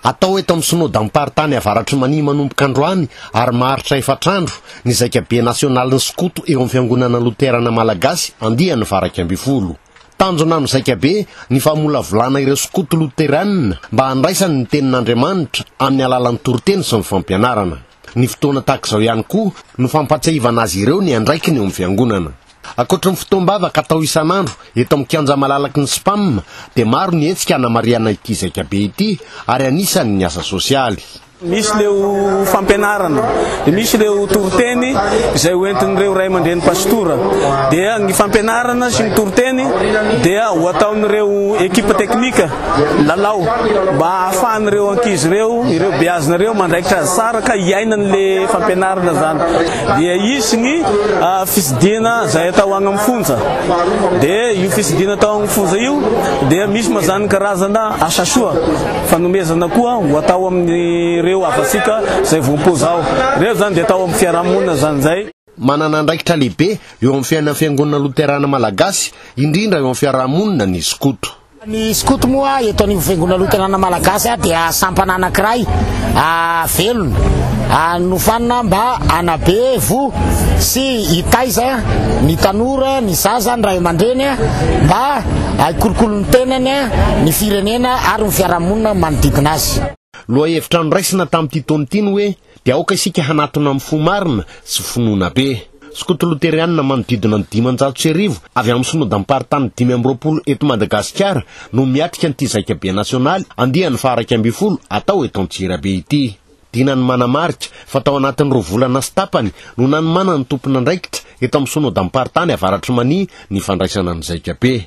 Atao eto amin'ny Synodam-paritany Avaratr'i Mania manomboka androany ary maharitra efatra andro ny Zaikabe nasionalin'ny skoto eo amin'ny Fiangonana Loterana Malagasy andiany valo iraika ambin'ny folo. Tanjona amin'ny Zaikabe ny famolavolana ireo skoto loterana mba handraisany ny tenin'Andriamanitra amin'ny alalan'ny toriteny sy ny fampianarana. Ny fotoana tahaka izao ihany koa no fampahatsiahivana azy ireo ny andraikiny eo amin'ny Fiangonana. Ankoatry ny fotoam-bavaka atao isan'andro eto amin'ny Kianja malalaky ny Spam dia maro ny hetsika hanamarihana ity zaikabe ity ary anisany ny asa sosialy. Misy ireo fampianarana, dia misy ireo toriteny izay hoentin'ireo ray aman-dreny pasitora. Dia ny fampianarana sy ny toriteny dia ho ataon'ireo ekipa teknika. Lalao mba hahafahan'ireo ankizy ireo, ireo beazina ireo mandraikitra azy tsara ka hiainany le fampianarana zany. Dia hisy ny fisidina zay atao agny amin'ny fonja. Dia io fisidina atao agny fonja io dia misy ma zany karazana asa soa fanomezana koa ho atao amin'ireo havatsika zay voampoza ao. Reo zany dia atao amin'ny fiarahamonina zany zay. Manana andraikitra lehibe eo amin'ny fiainan'ny Fiangonana Loterana Malagasy, indrindra eo amin'ny fiaraha-monina, ny skoto. Ny skoto moa eto anivon'ny Fiangonana Loterana Malagasy dia sampana anankiray velona nofanina mba hanabe voho sy hitaiza ny tanora, ny zaza, ny ray aman-dreny mba hikolokolo ny tenany, ny firenena ary ny fiaraha-monina manodidina azy. Lohahevitra noraisina tamin'ity taona ity ny hoe. Dia aoka isika hanatona amin'ny fo marina sy finoana be. Skoto Loterianina manodidina ny dimanjato sy arivo avy amin'ny Synodam-paritany dimy amby roapolo eto Madagasikara no miatrika an'ity Zaikabe Nasionaly andiany faha-iraika ambin'ny folo atao eto Antsirabe ity. Dinany manamarika fa tao anatin'ny roa volana sy tapany no nanomanan'ny tompon'andraikitra eto amin'ny Synodam-paritany Avaratr'i Mania ny fandraisana ny Zaikabe.